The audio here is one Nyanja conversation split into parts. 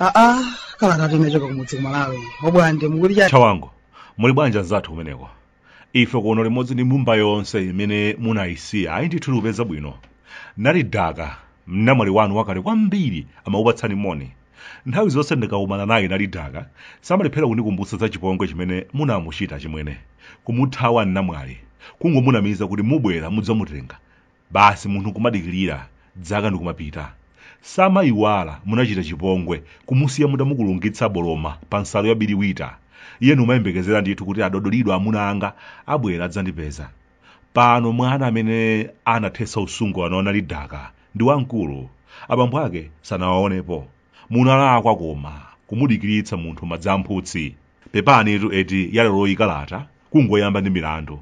aa kala tati yochoka kumudzi kumalawi obwande muku chawangu muli bwanji anzathu kumeneko ife kuno limodzi ndi mbumba yonse imene munayisiya ayi ndithu tikupeza bwino nali daka mnamwali wanu wakale kwambiri amakupatsani moni nthawi zonse ndikakumana naye nali daka samalephera kundikumbutsa za chipongwe chimene munamuchita chimwene kumuthawa mnamwali kungomunamiza kuti mubwera mudzamutenga basi munthu nkumadikilira dzaka ndikumapita samayiwala munachita chipongwe kumusiya mutamukulungitsa boloma pa nsalu ya biliwita iye nkumayembekezera ndithu kuti adodolido amuna anga abwera adzandipeza pano mwana amene anathetsa usungwana wa nali daka ndi wamkulu abambo ake sanawaonepo munalakwa koma kumudikiritsa munthu madzi a mphutsi pepanitu eti ya leroyi kalata kungoyamba ndi milandu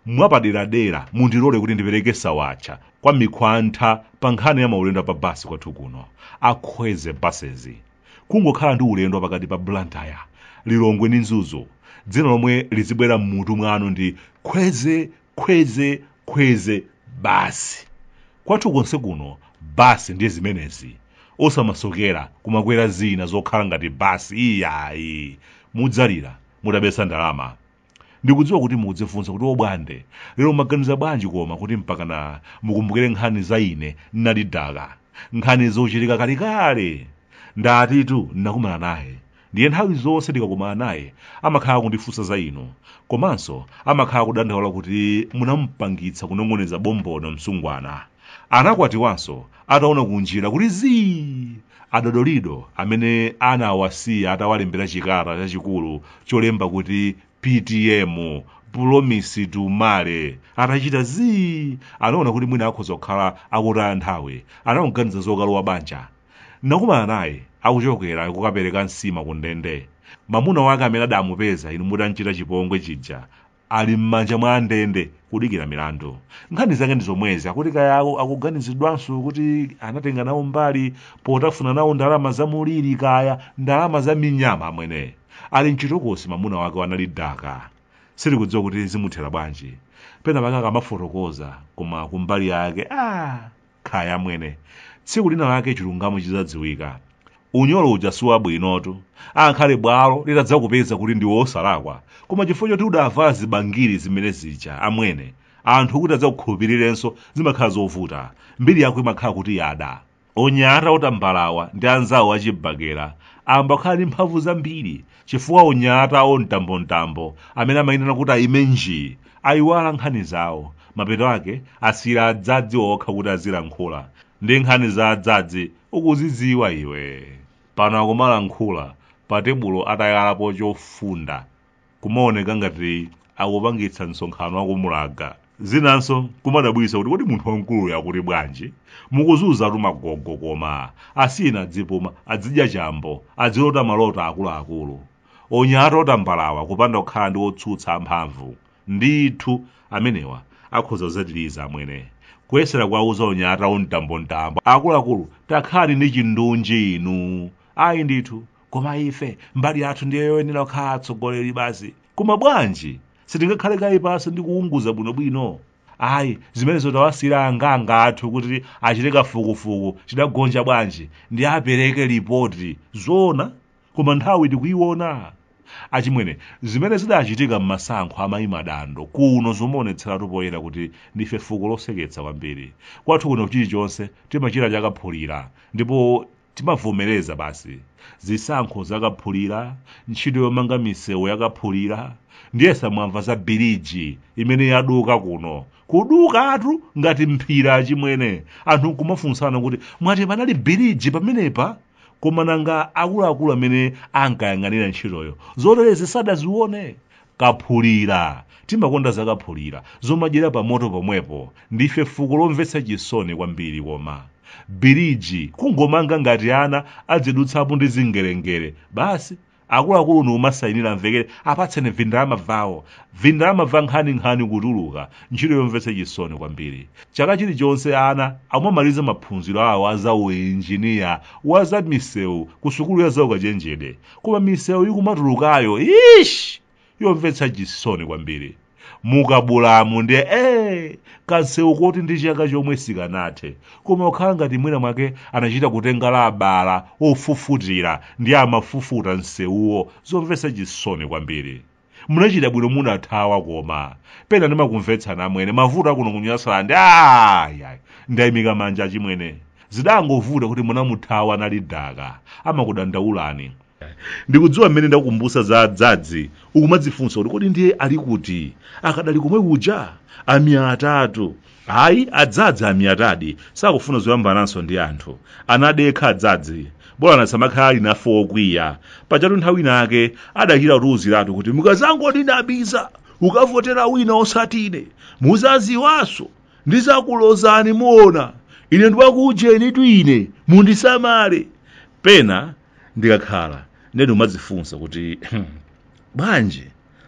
mwapaderadera mundilole kuti ndipereke sawatcha kwa mikhwantha pa nkhani ya maulendo pa basi kwathu kuno akhweze basezi kungokhala ndi ulendo pakati pa blantyre lilongwe ndi mzuzu dzina lomwe lizibwera m'mutu mwanu ndi khweze khweze khweze basi kwathu konse kuno basi ndi zimenezi osamasokera kumakwera zina zokhala ngati basi iyayi mudzalira mutabetsa ndalama ndikudziwa kuti mukudzifunsa kuti obwande lero mwaganiza bwanji koma kuti mpakana mukumbukire nkhani za ine nali daka nkhani zochitika kalekale ndatitu nnakumana naye ndiye nthawi zonse ndikakumana naye amakhala akundifunsa za inu komanso amakhala akudandaula kuti munamupangitsa kunong'oneza bombono msungwana anakwatiwanso ataona kunjira kuti zii adodolido amene anawasiya atawalembera chikata chachikulu cholemba kuti ptm pulomisi tu male atachita zii anaona kuti mwina akhoza kukhala akutaya nthawi anakaganiza zokalowa banja nakumana naye akuchokera kukapereka nsima ku ndende mamuna wake amene adamupeza inu mutamchita chipongwe chija ali m'manja mwa andende kudikira milandu nkhani zake ndi zomwezi akuti kaya awo akuganizidwanso kuti anatenga nawo mbali potafuna nawo ndalama za muliri kaya ndalama za minyama amwene ali mchitokosi mamuna wake wa nali daka sitikudziwa kuti zimuthera bwanji pena pake akamafotokoza koma kumbali yake ah kaya amwene tsiku lina lake chilungamo chidzadziwika unyolo uja si wabwinotu angakhale bwalo litadzakupeza kuti ndiwe osalakwa koma chifukwa choti udavala zibangiri zimene zija amwene anthu kuti adzakukhulupirirenso zimakhala zovuta mbiri yako imakhala kuti yada anyamata otambalawa ndi anzawo achibakera amba ukhala ndi mphamvu zambiri chifukwa anyata a mtambomtambo amene amayimana kuti ayime njii ayiwala nkhani zawo mapeto ake asiyira adzadzi okha kuti azilankhula ndi nkhani za adzadzi ukuzidziwa iwe pano akumalankhula pa tebulo atayalapo chofunda kumaoneka ngati akupangitsa msonkhano wa kumulaga zinanso kumadabwitsa kuti kodi munthu wamkuluyo akuti bwanji mukuzuzatu agogo koma asiyeni adzipuma adzidya chambo adzilota maloto akuluakulu onyata otambalawa kupanda kukhala ndi otsutsa amphamvu ndithu amenewa akhoza kudzatiliza amwene kuyesera kuwauza onyata omtambomtambo akuluakulu takhalani ndi chindunji inu ayi ndithu koma ife mbali yathu ndiye yoyenera kukhala atsogoleri basi koma bwanji sitingakhale kaye pansi ndi kuunguza bwinobwino ayi zimenezo tawasiyira angaanga athu kuti achite kafukufuku chidagonja bwanji ndi apereke lipoti zoona koma nthawi tikuiona achimwene zimene zidachitika m'masankho a Mayi Madando kuno zomaonetseratu poyera kuti ndife fuko loseketsa kwambiri kwathu kuno chilichonse timachita chakaphulira ndipo Timavomereza basi. Zisankho zakaphulira, ntchito yomanga misewu yakaphulira, ndiyesa mwamva za biliji imene yaduka kuno. Kudukatu ngati mphira achimwene. Anthu nkumafunsana kuti mwati panali biliji pamenepa? Koma nanga akuluakulu amene ankayang'anira ntchitoyo zoterezi sadazione? kaphulira timakonda zakaphulira zomadyera pa moto pomwepo ndife fuko lomvetsa chisoni kwambiri koma biriji kungomanga ngati ana adzidutsapo ndi zingelengele basi akuluakulu nkumasayinira amvekere apatseni vindalama vawo vindalama va nkhaninkhani kutuluka ntchito yomvetsa chisoni kwambiri chaka chilichonse ana akumamaliza maphunziro awo a zauinjiniya wa za misewu ku sukulu ya zaukachenjede koma misewu ikumatulukayo ish yomvetsa chisoni kwambiri mu Kabulamu ndiye ee kansewu koti ndi chaka chomwe sikanathe koma kukhala ngati mwina mwake anachita kutenga labala ofufutira ndi amafufuta nsewuwo zomvetsa chisoni kwambiri munachita bwino munathawa koma pena ndimakumvetsani amwene mavuto akuno ku Nyasalandi ayayi ndayimika manja achimwene zidangovuta kuti munamuthawa anali daka amakudandaulani ndikudziwa mmene ndakumbusa za dzadzi ukumadzifunsa kuti kodi ndiye ali kuti akadali komwe kuja ami atatu Ayi adzadzi amiyatadi sakufuna zoyambananso ndi anthu. Anadekha adzadzi. Bolani asamakhala ali nafe wokwiya. Pajatu nthawi ina yake adachita kutiuziratu kuti mukazangondinamiza kukavotera wina osati ine, muzaziwanso ndizakulozani muona. Ine ndiwakuujenitu ine, mundisamale. Pena ndikakhala ndiye ndikumadzifunsa kuti bwanji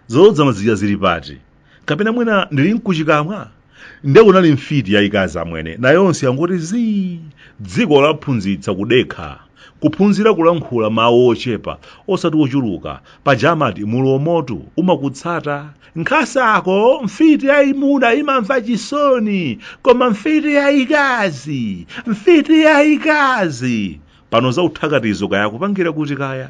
zolodzana zija zili pati kapena mwina ndili nkuchikamwa nde kunali mfiti yayikazi amwene nayonse yangoti zii dziko lawaphunzitsa kudekha kuphunzira kulankhula mawu ochepa osati ochuluka paja amati mulomotu umakutsata nkhasako mfiti yayimuna imamva chisoni koma mfiti yayikazi mfiti yayikazi pano za uthakatizo kaya akupangira kuti kaya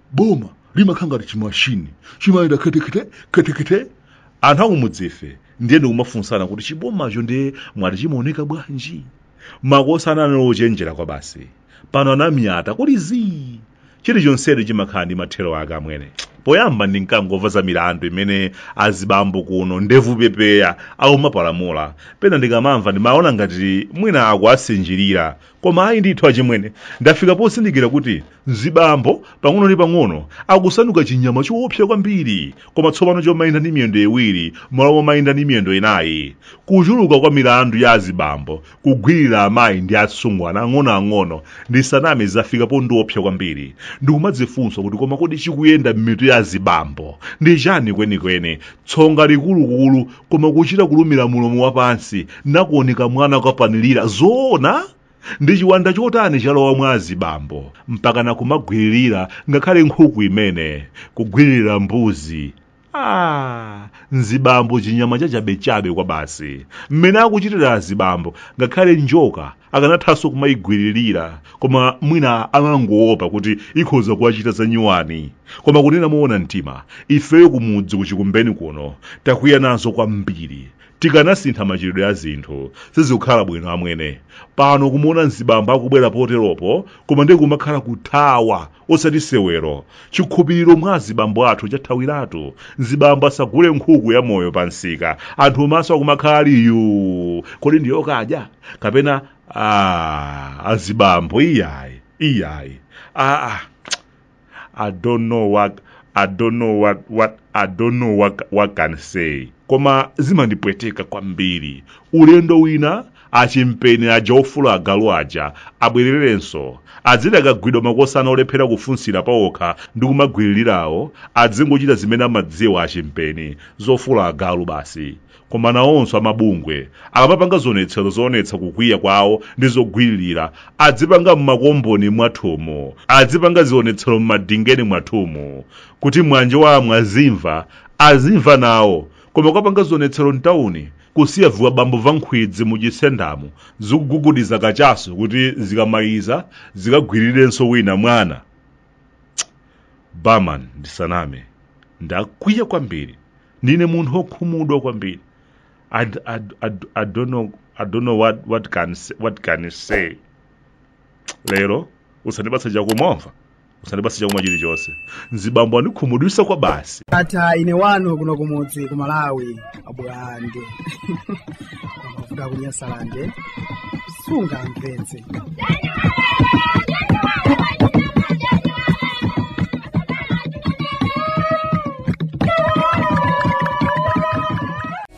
boma limakhala ngati chimashini chimayenda khetekhete khetekhete anthu akumudzife ndiye ndikumafunsana kuti chibomacho ndiye mwati chimaoneka bwanji makosana anali ochenjera kwa basi pano anamiyata kuli zii chilichonsecho chimakhala ndi mathero ake amwene poyamba ndimkangomva za milandu imene azibambo kuno ndevu pepeya akumapalamula pena ndikamamva ndimaona ngati mwina akuwasinjirira koma ayi ndithu achimwene ndafika pozindikira kuti mzibambo pang'ono ndi pang'ono akusanduka chinyama choopsa kwambiri koma tsopano chomayenda ndi miyendo iwiri m'malo momayenda ndi miyendo inayi kuchuluka kwa milandu ya azibambo kugwirira amayi ndi asungwana ang'onoang'ono ndisaname zafika pondiopsa kwambiri ndikumadzifunsa kuti koma kodi chikuyenda m'mitu ya azibambo ndi chani kwenikweni tsonga likulukulu koma kuchita kulumira mulomo wapansi nakuoneka mwana kapanilira zoona ndi chiwanda chotani chalowa mwa azibambo mpakana kumagwiririra ngakhale nkhuku imene kugwiririra mbuzi ah, mzibambo chinyama chachabechabe kwa basi mmene akuchitira azibambo ngakhale njoka akanathanso kumayigwiririra koma mwina amangoopa kuti ikhoza kuwachita zanyuwani koma kunena moona mtima ifeyo kumudzi kuchikumbeni kuno takwiya nazo kwambiri tikanasintha machitidwe a zinthu sizikukhala bwino amwene pano kumuona mzibambo akubwera poteropo koma ndiye kumakhala kuthawa osati sewero chikhupiriro mwa azibambo athu chathawiratu mzibambo asagule nkhuku ya moyo pa msika anthu maso akumakhala ali yu kodi ndi yokadya kapena ah, azibambo iyayi iyayi ah, ah. I don't know what I don't know what what I don't know what, what can I say koma zimandipweteka kwambiri ulendo wina achimpeni aja ofula agalu aja abwererenso adziti akagwidwa makosana olephera kufunsira paokha ndi kumagwiririrawo adzingochita zimene amadziwa achimpeni zofula agalu basi koma nawonso amabungwe akamapanga zionetsero zoonetsa kukwiya kwawo ndi zogwiririra adzipanga m'makomboni mwathumu adzipanga zionetsero m'madingeni mwathumu kuti mwina iwo amwe azimva azimva nawo koma kukapanga zionetsero mtawuni kusiya vizibambo va nkhwidzi m'chisendamo zikugugudiza kachasu kuti zikamaliza zikagwirirenso wina mwana barman ndisaname ndakwiya kwambiri ndine munthu wokhumudwa kwambiri I, d- I, d- I, d- I don't know, I don't know what, what, can, s- what can I say lero usandipatsa chakumwa usandipatse chakumwa chilichonse azibambo andikhumudwitsa kwa basi ndatha ine wanu kuno kumudzi ku malawi abulande mavuto kunyasalande sungamvetse